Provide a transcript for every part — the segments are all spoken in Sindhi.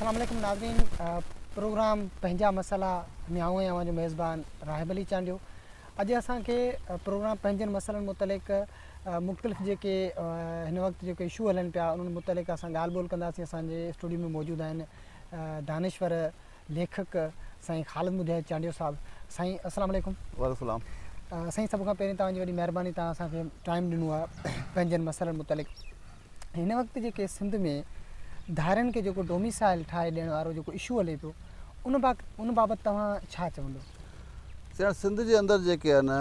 اسلام عليڪم ناظرين پروگرام پنهنجا مسئلا ۾ آئون آهيان اوهان جو ميزبان راحب علي چانڊيو اڄ اسان کي پروگرام پنهنجن مسئلن متعلق مختلف جيڪي هن وقت جيڪي اشو هلن پيا انهن متعلق اسان ڳالهه ٻولهه ڪنداسين اسان جي اسٽوڊيو ۾ موجود آهن دانشور ليکڪ سائين خالد مجاهد چانڊيو صاحب سائين السلام عليڪم. وعليڪم السلام. سائين سڀ کان پهرين توهان جي وڏي مهرباني توهان اسان کي ٽائيم ڏنو آهي پنهنجن مسئلن متعلق هن وقت جيڪي سنڌ ۾ ڌارين کي جيڪو ڊوميسائل ٺاهي ڏيڻ وارو جيڪو اشو هلي پيو ان با ان بابت توهان ڇا چوندو سائين سنڌ جي اندر جيڪي آهن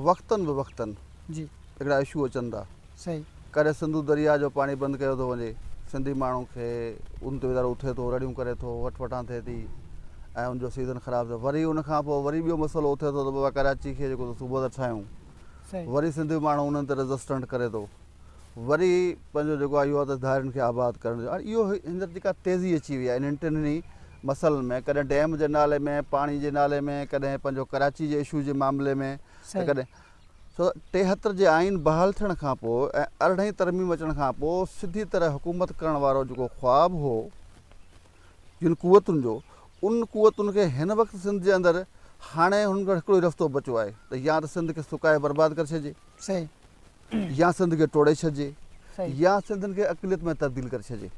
وقتن به وقتن جي هڪڙا اشو اچن ٿا سهي. ڪڏهن سنڌو درياهه جو پاڻي بند ڪيو ٿو وڃي، سنڌي ماڻهو کي ان تي ويچارو اٿي ٿو، رڙيون ڪري ٿو، وٺ وٺان ٿئي ٿي ۽ ان جو سيزن خراب ٿئي ٿو. وري ان کان پوء وري ٻيو مسئلو اٿي ٿو ته بابا ڪراچي کي جيڪو تو صوبو ٿا ٺاهيون، سهي. وري سنڌي ماڻهو انهن تي ريزسٽنٽ ڪري ٿو. وري پنهنجو جيڪو اهو آهي ته ڌارين کي آباد ڪرڻ جو هاڻي اهو هينئر جيڪا تيزي اچي وئي آهي انهن ٽنهي مسئلن ۾ ڪڏهن ڊيم جي نالي ۾ پاڻي جي نالي ۾ ڪڏهن پنهنجو ڪراچي جي اشو جي معاملي ۾ ته سهي. ڪڏهن ڇو ته ٽيهتر جي آئين بحال ٿيڻ کان پوء ۽ ارڙهين ترميم اچڻ کان پوء سڌي طرح حڪومت ڪرڻ وارو جيڪو خواب هو جن قوتن جو ان قوتن کي هن وقت سنڌ جي اندر هاڻي هنن کي هڪڙو ئي رستو بچو آهي ته يا ته سنڌ کي سڪائي برباد ڪري ڇڏجي يا سنڌ کي ٽوڙي ڇڏجي يا سنڌين کي اقليت ۾ تبديل ڪري ڇڏجي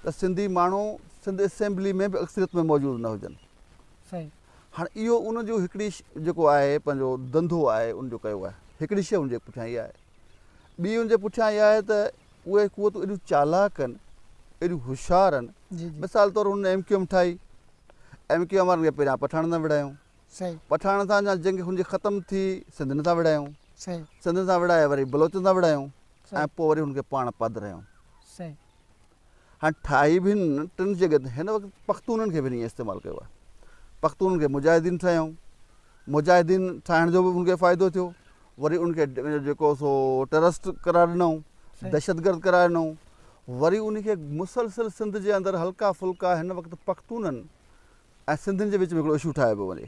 ته سنڌي ماڻهو سنڌ اسيمبلي ۾ به اڪثريت ۾ موجود نه هجن هاڻي اهو ان جو هڪڙي جيڪو آهي پنهنجو ڌنڌو آهي ان جو ڪيو آهي هڪڙي شيء ان جي پٺيان اها آهي ٻي ان جي پٺيان اها آهي ته اهي قوتون ايڏيون چالاڪ آهن ايڏيون هوشيار آهن مثال طور هن ايم ڪيو ايم ٺاهي ايم ڪيو ايم وارن کي پهريان پٺاڻن سان وڙهايون پٺاڻن سان جا جنگ هن جي ختم ٿي سنڌين سان وڙهايون سنڌين سان وڙهائي وري بلوچن سان وڙهايون ۽ پوء وري هن کي پاڻ پڌرايون هاڻي ٺاهي به هن ٽن جي گڏ هن وقت پختونن کي به هن ائين استعمال ڪيو آهي پختونن کي مجاهدين ٺاهيائون مجاهدين ٺاهڻ جو به ان کي فائدو ٿيو وري ان کي جيڪو سو ٽرسٽ قرار ڏنائون دهشت گرد قرار ڏنائون وري ان کي مسلسل سنڌ جي اندر هلڪا ڦلڪا هن وقت پختونن ۽ سنڌين جي وچ ۾ هڪڙو اشو ٺاهي پيو وڃي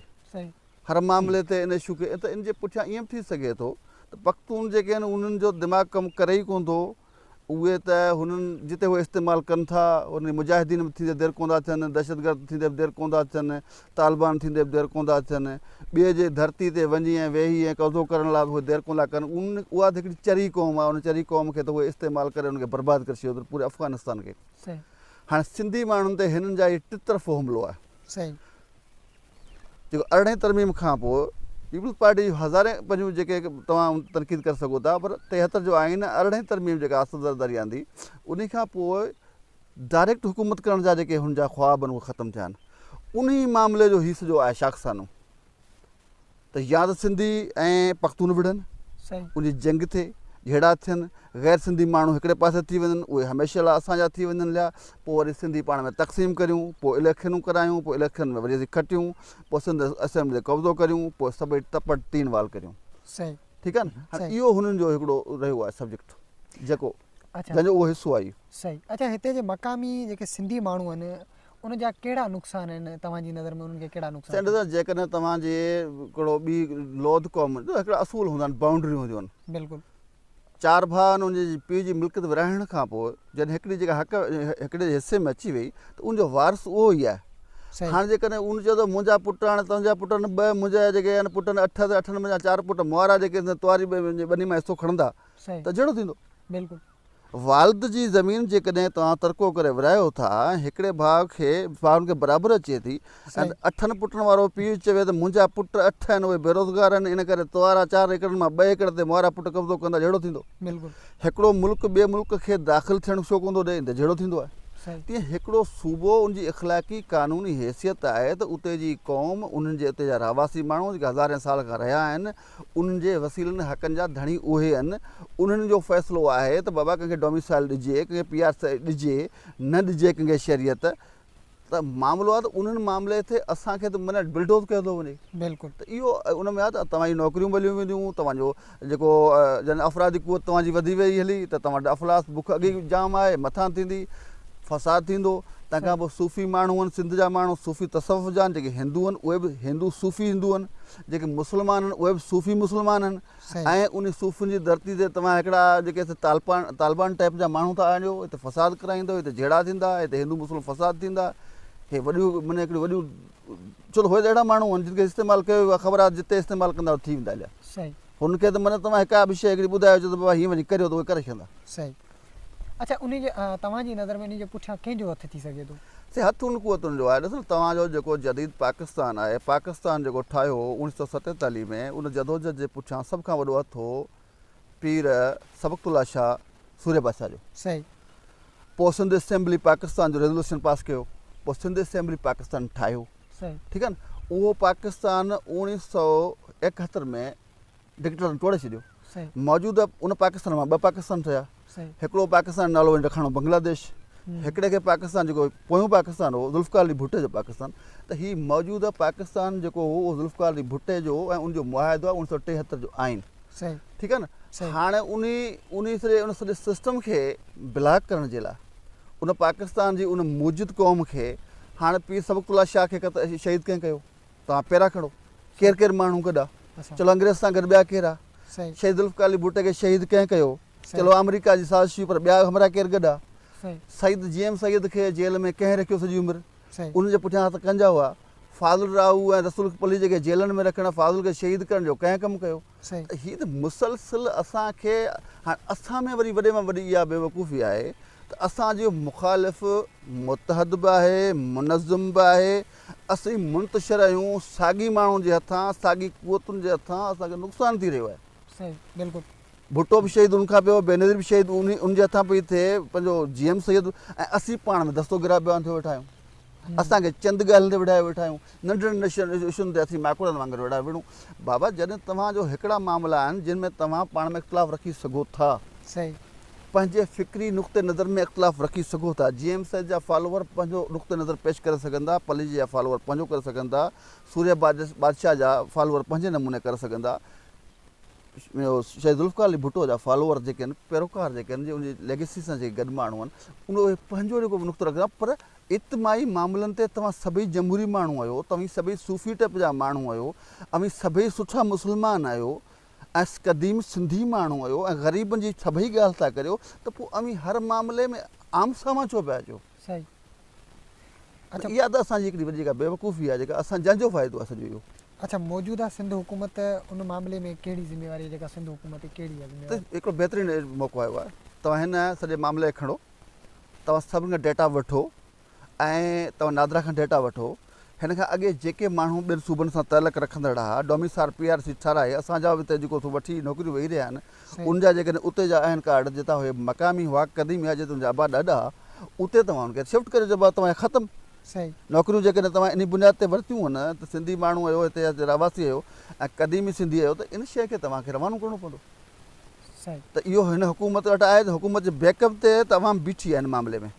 هر معاملي تي ان اشو کي ته ان جي پٺيان ائين به ٿي سگهي ٿو ته پختون جيڪي آهن انهن جو دماغ ڪم ڪري ئي ڪون ٿو اهي ته هنن جتي اهي استعمال ڪن ٿا انهن جي مجاهدين به ٿيندي دير ڪوندا ٿين، دهشتگرد ٿيندي به دير ڪوندا ٿين، طالبان ٿيندي به دير ڪوندا ٿين، ٻئي جي ڌرتي تي وڃي ۽ ويهي ۽ قبضو ڪرڻ لاء به اهي دير ڪوندا ڪن، اها ته هڪڙي چري قوم آهي ان چري قوم کي ته اهي استعمال ڪري ان کي برباد ڪري ڇڏيو اٿن پوري افغانستان کي، هاڻي سنڌي ماڻهن تي هنن جا اهي ٽطرفو حملو آهي، جيڪو ارڙهين ترميم کان پوء پيپلز پارٽي جون هزارين پنهون جيڪي توهان تنقيد ڪري سگهو ٿا پر ٽيهتر جو آئين ۽ ارڙهين ترميم جيڪا آصف زرداري آندي انهي کان پوء ڊائريڪٽ حڪومت ڪرڻ جا جيڪي هن جا خواب آهن اهي ختم ٿيا آهن انهي معاملي جو هي سڄو آهي شاخسانو. ته يا ته سنڌي ۽ پختون وڙهن، ان جي جنگ ٿئي، جهيڙا ٿين، غير سنڌي ماڻهو هڪڙي پاسي ٿي وڃن، اهي هميشه لاء اسان جا ٿي وڃن ليا، پوء وري سنڌي پاڻ ۾ تقسيم ڪريون، پوء اليڪشنون ڪرايون، پوء اليڪشنن ۾ وري اسين کٽيون، پوء سنڌ اسيمبلي تي قبضو ڪريون، پوء سڀئي ٽپڙ تين وال ڪريون. ٺيڪ آهي نه؟ هاڻي اهو هنن جو هڪڙو رهيو آهي سبجيڪٽ جيڪو جنهن جو اهو حصو آهي. صحيح. اڇا هتي جي مقامي جيڪي سنڌي ماڻهو آهن ان جا ڪهڙا نقصان آهن توهان جي نظر ۾ انهن کي ڪهڙا نقصان ٿيندا. سينيٽر صاحب جيڪڏهن توهان جي ڪهڙو ٻي لوڌ قوم جو هڪڙا اصول هوندا آهن بائونڊريون هونديون آهن بلڪل. چار ڀاء آهن ان جي پيء جي ملڪيت ورهائڻ کان پوء جڏهن هڪڙي جيڪا حق هڪڙي جي حصي ۾ اچي وئي ته ان جو وارث اهو ئي آهي صحيح. هاڻ جيڪڏهن ان چيو ته منهنجا پٽ آهن تنهنجا پٽ آهن ٻه منهنجا جيڪي آهن پٽ آهن اٺ اٺن منهنجا چار پٽ مئارا جيڪي ٿيندا تواري ٻني مان حصو کڻندا صحيح ته جهيڙو ٿيندو بلڪل. والد جي زمين جيڪڏهن توهان ترڪو ڪري ورهايو ٿا ۽ هڪڙي ڀاء کي ڀائرن کي برابر اچي ٿي ۽ اٺن پٽن وارو پيء چوي ته منهنجا پٽ اٺ آهن اهي بيروزگار آهن ان ڪري توهارا چار ايڪڙن مان ٻه ايڪڙ تي مهارا پٽ قبضو ڪندا جهيڙو ٿيندو هڪڙو ملڪ ٻئي ملڪ کي داخل ٿيڻ ڇو ڪوندو ڏئي ته جهيڙو ٿيندو آهي تيئن هڪڙو صوبو ان جي اخلاقي قانوني حيثيت آهي ته اتي جي قوم انهن جي اتي جا رهواسي ماڻهو جيڪي هزارين سال کان رهيا آهن انهن جي وسيلن حقن جا ڌڻي اهي آهن انهن جو فيصلو آهي ته بابا ڪنهن کي ڊوميسائيل ڏجي ڪنهن کي پي آر سي ڏجي نه ڏجي ڪنهن کي شهريت ته معاملو آهي ته انهن معاملي تي اسان کي ته معنيٰ بلڊوز ڪيو ٿو وڃي بلڪل ته اهو ان ۾ آهي ته توهان جون نوڪريون ٻليون وينديون توهان جو جيڪو جن افرادي قوت توهان جي وڌي وئي هلي ته توهان وٽ افلاس بک اڳي ئي جام آهي مٿان ٿيندي فساد ٿيندو تنهن کان پوء صوفي ماڻهو آهن سنڌ جا ماڻهو صوفي تصوف جا آهن جيڪي هندو آهن اهي به هندو صوفي هندو آهن جيڪي مسلمان آهن اهي به صوفي مسلمان آهن ۽ انهي صوفين جي ڌرتي تي توهان هڪڙا جيڪي طالبان ٽائيپ جا ماڻهو ٿا آڻيو هتي فساد ڪرائيندو هتي جهيڙا ٿيندا هتي هندو مسلم فساد ٿيندا هي وڏيون معنيٰ هڪڙيون وڏيون ڇو ته هو ته اهڙا ماڻهو آهن جن کي استعمال ڪيو ويو خبر آهي جتي استعمال ڪندا ٿي ويندا هليا هن کي ته معنيٰ توهان هڪ ٻه شيء هڪڙي ٻڌايو چئو ته بابا هيئن وڃي ڪريو ته اهي ڪري ڇڏيندا اڇا انهي جي توهان جي نظر ۾ انهي جي پٺيان ڪنهن جو هٿ ٿي سگهي ٿو؟ سائين هٿ ان قوتن جو آهي ڏسو نه توهان جو جيڪو جديد پاڪستان آهي پاڪستان جيڪو ٺاهيو هو اوڻيھ سؤ ستيتاليھ ۾ ان جدوجھد جي پٺيان سڀ کان وڏو هٿ هو پير سبقت الله شاھ سورهيه بادشاھ جو صحيح پوء سنڌ اسيمبلي پاڪستان جو ريزولوشن پاس ڪيو پوء سنڌ اسيمبلي پاڪستان ٺاهيو صحيح ٺيڪ آهي نه اهو پاڪستان اوڻيھ سؤ ايڪهتر ۾ ڊڪٽيٽرن ٽوڙي ڇڏيو. موجوده ان پاڪستان مان ٻه پاڪستان ٺهيا. هڪڙو پاڪستان نالو هن رکڻو بنگلاديش. هڪڙي کي پاڪستان جيڪو پويون پاڪستان هو ذوالفقار علي ڀٽي جو پاڪستان ته هي موجوده پاڪستان جيڪو هو اهو ذوالفقار علي ڀٽي جو هو ۽ ان جو معاهدو آهي ان سو ٽيهتر جو آئين ٺيڪ آهي نه هاڻي ان ان سڄي ان سڄي سسٽم کي بلاڪ ڪرڻ جي لاء ان پاڪستان جي ان موجود قوم کي هاڻي پير سبق الله شاهه کي شهيد ڪنهن ڪيو توهان پيرا کڻو ڪير ڪير ماڻهو گڏا چلو انگريز سان گڏ ٻيا ڪيرا شهيد ذوالفقار علي ڀٽي کي شهيد ڪنهن ڪيو چلو آمريڪا جي سازش هئي پر ٻيا همراهه ڪير گڏا سيد جي ايم سيد کي جيل ۾ ڪنهن رکيو سڄي عمر ان جي پٺيان هٿ ڪنهن جا هئا فاضل راهو ۽ رسول پليجي کي جيلن ۾ رکڻ فاضل کي شهيد ڪرڻ جو ڪنهن ڪم ڪيو صحيح. هي ته مسلسل اسان کي هاڻ اسان ۾ وري وڏي مان وڏي اها بيوقوفي آهي ته اسان جو مخالف متحد به آهي منظم به آهي اسين منتشر آهيون ساڳي ماڻهن جي هٿان ساڳي قوتن جي هٿان اسان کي نقصان ٿي رهيو آهي. صحيح بلڪل. ڀٽو به شهيد ان کان پيو بينظير به شهيد ان جي هٿان پئي ٿئي پنهنجو جي ايم سيد ۽ اسين پاڻ ۾ دستو گرا بيان ٿيو ويٺا آهيون. اسان کي چند ڳالهين تي ويڙهايو ويٺا آهيون. ننڍڙن نشن اشن تي اٿي ماڪوڙن وانگر ويڙهايو ويڙهون. بابا جڏهن توهان جو هڪڙا معاملا آهن جن ۾ توهان پاڻ ۾ اختلاف رکي سگهو ٿا. صحيح. پنهنجي فڪري نقطه نظر ۾ اختلاف رکي سگهو ٿا. جي ايم سيد جا فالوور پنهنجو نقطه نظر پيش ڪري سگهن ٿا، پليجي جا فالوور پنهنجو ڪري سگهن ٿا، سوريا بادشاهه جا فالوور پنهنجي نموني ڪري سگهن ٿا، شهيد ذوالفقار علي ڀٽو جا فالوور جيڪي آهن، پيروڪار جيڪي آهن، ان جي ليگيسي سان جيڪي گڏ ماڻهو آهن، اهي پنهنجو جيڪو به نقطو رکن ٿا پر اجتماعي معاملن تي توهان سڀئي جمهوري ماڻهو آهيو، توهين سڀئي صوفي ٽپ جا ماڻهو آهيو، اوهين سڀئي سٺا مسلمان آهيو ۽ قديم سنڌي ماڻهو آهيو ۽ غريبن جي سڀئي ڳالهه ٿا ڪريو ته پوء اوهين هر معاملي ۾ آمهون سامهون ڇو پيا اچو؟ صحيح. اچا. اها ته اسان جي هڪڙي وڏي جيڪا بيوقوفي آهي جيڪا اسان جنهن جو فائدو آهي سڄو اهو. اچا موجوده سنڌ حڪومت ان معاملي ۾ ڪهڙي ذميواري جيڪا سنڌ حڪومت کي ڪهڙي ذميواري. هڪڙو بهترين موقعو آيو آهي توهان هن سڄي معاملي کي کڻو. توهان سڀ کان ڊيٽا وٺو ۽ توهان نادرا کان ڊيٽا وٺو هن کان اڳي جيڪي ماڻهو ٻين صوبن سان تعلق رکندڙ ها ڊوميسار پي آر سي ٺهرائي اسان جا به ته جيڪو سو وٺي نوڪريون ويهي رهيا آهن ان جا جيڪڏهن اتي جا آهن ڪارڊ جتان هي مقامي هئا قديمي هئا جتان جا ابا ڏاڏا اتي توهان ان کي شفٽ ڪري جبا توهان ختم نوڪريون جيڪڏهن توهان انهي بنياد تي ورتيون هن ته سنڌي ماڻهو آهيو هتي جا رهواسي آهيو ۽ قديمي سنڌي آهيو ته ان شيء کي توهان کي روانو ڪرڻو پوندو ته اهو هن حڪومت وٽ آهي ته حڪومت جي بيڪ اپ تي ته عوام بيٺي آهي هن معاملي ۾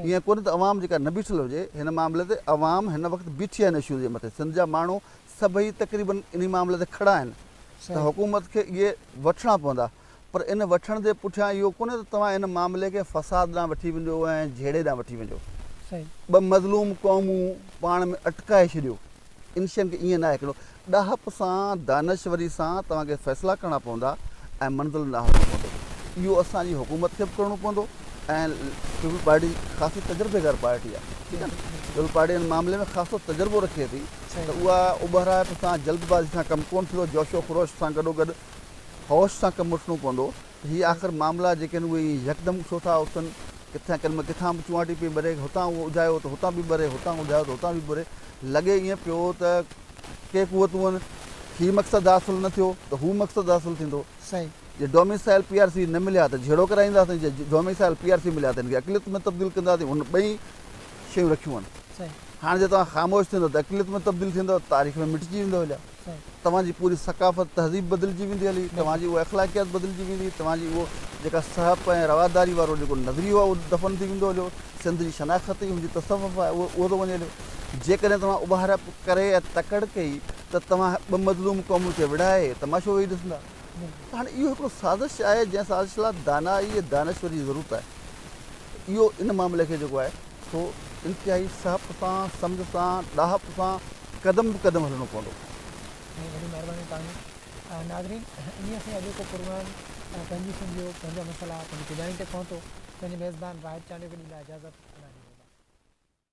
ائين ڪونهي ته عوام جيڪا نه بيٺل هجي هن معاملي تي عوام هن وقت بيٺي آهي هن اشو جي مٿي سنڌ جا ماڻهو سڀئي تقريبن انهي معاملي تي کڙا آهن ته حڪومت کي اهي وٺڻا پوندا پر ان وٺڻ جي پٺيان اهو ڪونهي ته توهان هن معاملي کي فساد ڏانهن وٺي وڃو ۽ جهيڙي ڏانهن وٺي وڃو ٻه مظلوم قومون پاڻ ۾ اٽڪائي ڇڏيو انشين کي ائين نه آهي هڪڙو ڏاهپ سان دانشوري سان توهان کي فيصلا ڪرڻا پوندا ۽ منزل ڏانهن هلڻو پوندو اهو اسان جي حڪومت کي به ڪرڻو پوندو ۽ پيپلز پارٽي خاصي تجربيڪار پارٽي آهي ٺيڪ آهي نه پيپلز پارٽي ان معاملي ۾ خاصو تجربو رکي ٿي ته اها اٻهرائپ سان جلدبازي سان ڪم ڪونه ٿيندو جوش و خروش سان گڏو گڏ هوش سان ڪم وٺڻو پوندو هي آخر معاملا جيڪي آهن اهي ائين يڪدم ڇو ٿا اٿن؟ ڪٿان ڪنهن ڪٿان به چونئاٽي پئي ٻري، هتان اهو اجايو ته هتان به ٻري، هتان اجايو ته هتان به ٻري. لڳي ائين پيو ته ڪي قوتون هي مقصد حاصل نه ٿيو ته هو مقصد حاصل ٿيندو. صحيح. جي ڊوميسائيل پي آر سي نه مليا ته جهيڙو ڪرائينداسين، جي ڊوميسائيل پي آر سي مليا ته هن کي اقليت ۾ تبديل ڪنداسين، هن ٻئي شيون رکيون آهن. صحيح. هاڻ جي توهان خاموش ٿيندو ته اقليت ۾ تبديل ٿيندو، تاريخ ۾ مٽجي ويندو اليا. توهان جي پوري ثقافت تهذيب بدلجي ويندي هلي، توهان جي اها اخلاقيات بدلجي ويندي، توهان جي اهو جيڪا سهپ ۽ رواداري وارو جيڪو نظريو آهي اهو دفن ٿي ويندو هليو، سنڌ جي شناخت ئي هن جي تصوف آهي اهو ٿو وڃي هليو، جيڪڏهن توهان اڀارپ ڪري ۽ تڪڙ ڪئي ته توهان ٻه مظلوم قومن کي وڙهائي تماشو ويهي ڏسندا ته هاڻي اهو هڪڙو سازش آهي جنهن سازش لاء دانائي ۽ دانشوري جي ضرورت آهي اهو ان معاملي کي جيڪو آهي سو انتهائي سهپ سان، سمجهه سان، ڏاهپ سان قدم به قدم هلڻو پوندو. سائين وڏي مهرباني توهان جي. ناظرين اميد سائين اڄوڪو پروگرام پنهنجي سنڌ جو پنهنجا مسئلا پنهنجي پڄاڻي تي پهتو پنهنجي ميزبان واحد چانڊيو کي ڏي لاء اجازت الهي بولا.